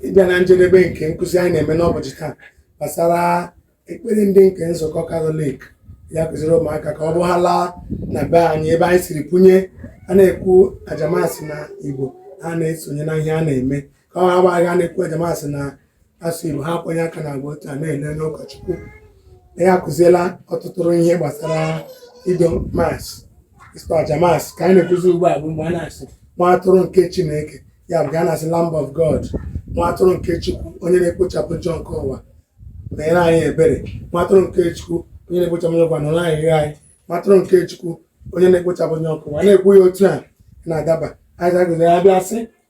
ịbịa na njedebe nke nkụzi anyị na-eme n'ụbọchị taa gbasara ekpere ndị nke nzukọ katọlik ya-akụziri ụmụaka ka ọ bụ ha laa na be anyị ebe anyị siri kwunye a na-ekwu aja mas na igbo ha na-esonye na ihe a na-eme ka ọ ghara abụ a na-ekwu aja mas na asụsụ Igbo ha akwanye aka na agba otu a na-ele onye ụkọchukwu na ya akụziela ọtụtụ ihe gbasara ido mas ịchụ aja mas ka anyị na-ekwuzi ugbu a bụ mgbe a na-asị nwa atụrụ nke Chineke ya bụ ka a na-asị Lamb of God nwa atụrụ nke Chukwu onye na-ekpochapụ njọ nke ụwa meere anyị ebere nwa atụrụ nke Chukwu onye na-ekpochapụ njọ ụwa nụrụ ayịyọ anyị nwa atụrụ nke Chukwu onye na-ekpochapụ njọ nke ụwa na-ekwu ya otu a na-adaba anyị ga-agụziri ya bịa sị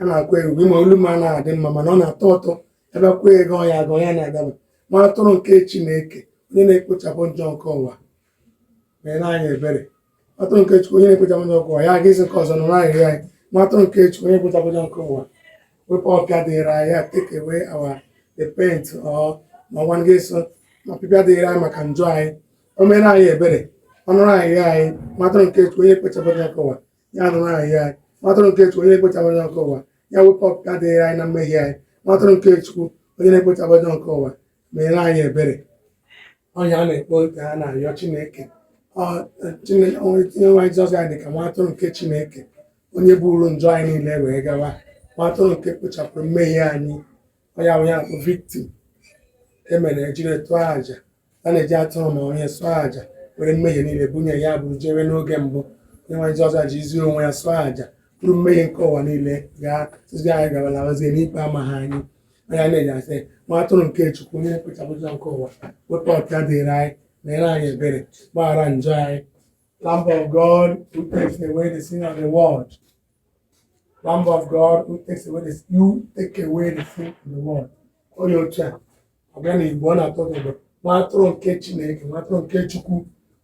a na-akwa egwu ịma olu m anaghị adị mma mana ọ na-atọ ụtọ ebe kwa egwu ya agụ ya na-adaba nwa atụrụ nke Chineke onye na-ekpochapụ njọ nke ụwa meere anyị ebere nwa atụrụ nke Chukwu onye na-ekpochapụ njọ nke ụwa ya aga isi nke ọzọ nụrụ ayịyọ anyị nwa atụrụ nke Chukwu onye na-ekpochapụ njọ nke ụwa wepụ ọpịa dịrị anyị take away our the pain or ma ọgwa ndị so na ọpịpịa dịrị anyị maka njọ anyị o meere anyị ebere ọ nụrụ ayịyọ anyị nwa atụrụ nke Chukwu onye na-ekpochapụ njọ nke ụwa ya nụrụ ayịyọ anyị nwa atụrụ nke chukwu onye na-ekpochapụ njọ nke ụwa ya wepụ ọpịpịa dịrị anyị na mmehie anyị nwa atụrụ nke chukwu onye na-ekpochapụ njọ nke ụwa meere anyị ebere onye na-ekpe nke a na-arịọ chineke Ọ- Chineke- onye nwe anyị jizọs ya dị ka nwa atụrụ nke chineke onye buru njọ anyị niile wee gawa nwa atụrụ nke kpochapụrụ mmehie anyị onye ahụ ya bụ victim e mere e jiri chụọ aja a na-eji atụrụ ma onye chụọ aja were mmehie niile bunye ya buru jewe n'oge mbụ onye nwe anyị Jizọs jizi onwe ya chụọ aja buru mmehie nke ụwa niile gaa tụzi anyị gabalawazie n'ikpe amaghị anyị ọ ya a na-eji asị nwa atụrụ nke Chukwu onye na-ekpochapụ njọ nke ụwa wepụ ọpịa dịrị anyị meere anyị ebere gbaghara njọ anyị Lamb of God who takes away the sin of the world Lamb of God who takes away the you take away the sin of the world. Onye otu a ọ bịa na Igbo ọ na-atọ gị ụtọ. nwa atụrụ nke Chineke nwa atụrụ nke Chukwu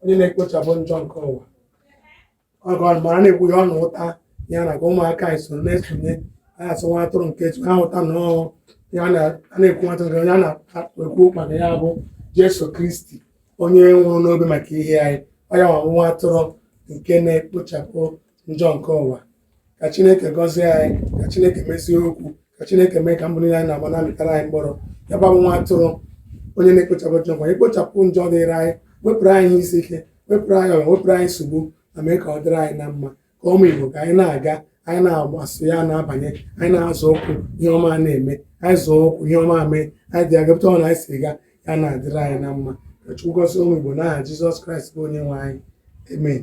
onye na-ekpochapụ njọ nke ụwa ọgọ mara na-ekwu ya ọ na-aghọta ya na ka ụmụaka anyị so na-esonye anyị asị nwa atụrụ nke Chukwu ha aghọta na ọ ya ka a na-ekwu nwa atụrụ nke a na-ekwu maka ya bụ Jesu Kristi onye nwụrụ n'obe maka ihe anyị ọ ya wụ nwa atụrụ nke na-ekpochapụ njọ nke ụwa ka chineke gọzie anyị ka chineke mezie okwu ka chineke mee ka mbọ niile anyị na-agba na-amịtara anyị mkpụrụ ya bụ nwa atụrụ onye na-ekpochapụ njọ ụwa ekpochapụ njọ dịrị anyị wepụrụ anyị ihe isi ike wepụrụ anyị ọrịa wepụrụ anyị nsogbu ma mee ka ọ dịrị anyị na mma ka ụmụ igbo ka anyị na-aga anyị na-agbasị ya na-abanye anyị na-azọ ụkwụ ihe ọma na-eme anyị zọọ ụkwụ ihe ọma mee anyị dị agapụta ọ na anyị si ga ya na-adịrị anyị na mma ka chukwu gọzie ụmụ igbo n'aha jizọs kraịst bụ onye nwe anyị amen